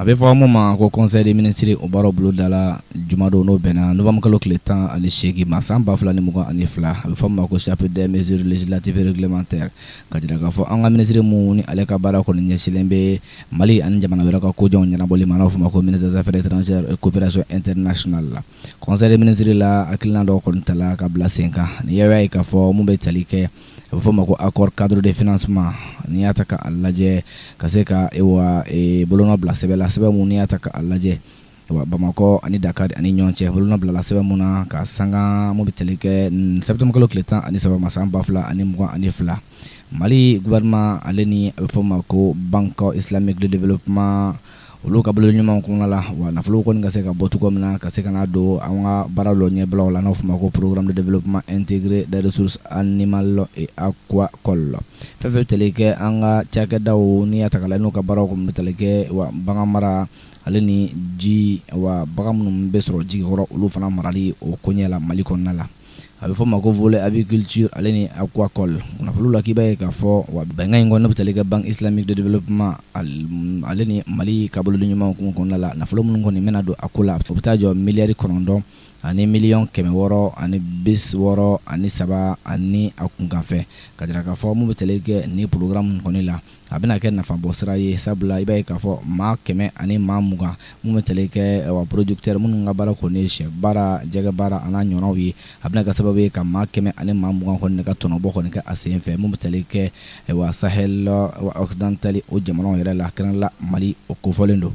a bɛ fɔ min ma ko conseil des ministres o baara bolodala jumadon n'o bɛnna novembre kalo tile tan ani seegin ma san ba fila ni mugan ani fila a bɛ fɔ ma ko chapitre des mesures législatives et réglementaires ka jira k'a fɔ an ka minisiri min ni ale ka baara kɔni ɲɛsinlen bɛ mali ani jamana wɛrɛ ka kojan ɲɛnabɔli ma n'a fɔ ma ko ministre des affaires étrangères et coopération internationale la conseil des ministres la hakilina dɔw kɔni tala ka bila sen kan n'i y'a ye k'a fɔ min bɛ tali kɛ a bɛ fɔ' ma ko accord cadre de financement n'i y'a ta k'a lajɛ ka se ka bolonɔ bila sɛbɛn la sɛbɛn min n'i y'a ta k'a lajɛ bamakɔ ani dakar ani ɲɔgɔn cɛ bolonɔ bilala sɛbɛn min na ka sanga min bɛ tali kɛ septembre kalo tile tan ani saba ma san ba fila ani mugan ani fila mali gouvernement ale ni a bɛ fɔ ma ko banque islamique de développement olu ka bolodiɲɔgɔnma kɔnɔna la wa nafolo kɔni ka se ka bɔ cogo min na ka se ka na don an ka baara dɔ ɲɛbila la n'o fɔ ma ko programme de développement intégré des ressources animales et aquacoles fɛn fɛn tali kɛ an ka cakɛda n'i y'a ta k'a lajɛ n'u ka baaraw kɔni bɛ tali kɛ wa bagan mara ale ni ji wa bagan minnu bɛ sɔrɔ ji kɔrɔ olu fana marali o koɲɛ la mali kɔnɔna la a bɛ fɔ ma ko volet aviculture ale ni aquacole nafolo la k'i b'a ye k'a fɔ wa bɛnkan in kɔni ne bɛ tali kɛ banque islamique de développement ale ni mali ka bolodiɲɔgɔnma hukumu kɔnɔna la nafolo minnu kɔni bɛna don a ko la a bɛ taa jɔ miliyari kɔnɔntɔn ani miliyɔn kɛmɛ wɔɔrɔ ani bi wɔɔrɔ ani saba ani a kunkanfɛn ka jira k'a fɔ min bɛ tali kɛ ni programme nin kɔni la a bɛna kɛ nafa bɔ sira ye sabula i b'a ye k'a fɔ maa kɛmɛ ani maa mugan min bɛ tali kɛ wa producteurs minnu ka baara kɔni ye sɛ baara jɛgɛ baara an'a ɲɔgɔnnaw ye a bɛna kɛ sababu ye ka maa kɛmɛ ani maa mugan kɔni ne ka tɔnɔbɔ kɔni kɛ a sen fɛ min bɛ tali kɛ wa sahel wa occidental o jamanaw yɛrɛ la kɛrɛnkɛrɛnnenya mali o kofɔlen don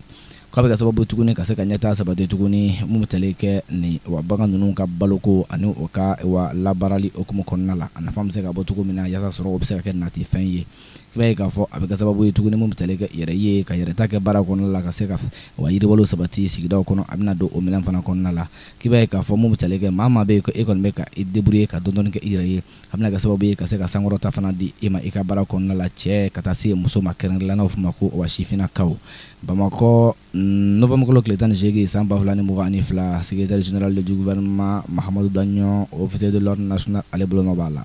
k'a bɛ kɛ sababu tuguni ka se ka ɲɛtaa sabati tuguni min bɛ tali kɛ ni wa bagan ninnu ka baloko ani o ka wa labaarali hukumu kɔnɔna la a nafa bɛ se ka bɔ cogo min na yaasa sɔrɔ o bɛ se ka kɛ natifɛn ye i b'a ye k'a fɔ a bɛ kɛ sababu ye tuguni min bɛ tali kɛ yɛrɛ ye ka yɛrɛta kɛ baara kɔnɔna la ka se ka wa yiriwali sabati sigidaw kɔnɔ a bɛna don o minɛn fana kɔnɔna la k'i b'a ye k'a fɔ min bɛ tali kɛ maa maa bɛ yen ko e kɔni bɛ ka i débrouiller ka dɔɔni kɛ i yɛrɛ ye a bɛna kɛ sababu ye ka se ka sankɔrɔta fana di e ma i ka baara kɔnɔna la cɛ ka taa se muso ma kɛrɛnkɛrɛnnenya la n'o bɛ f'o ma ko wa sifinnakaw Bamakɔ novembre kalo tile tan ni seegin san ba fila ni mugan ani fila secrétaire général du gouvernement Mahamadu Daɲɔn officier de l'ordre national ale bolonɔ b'a la.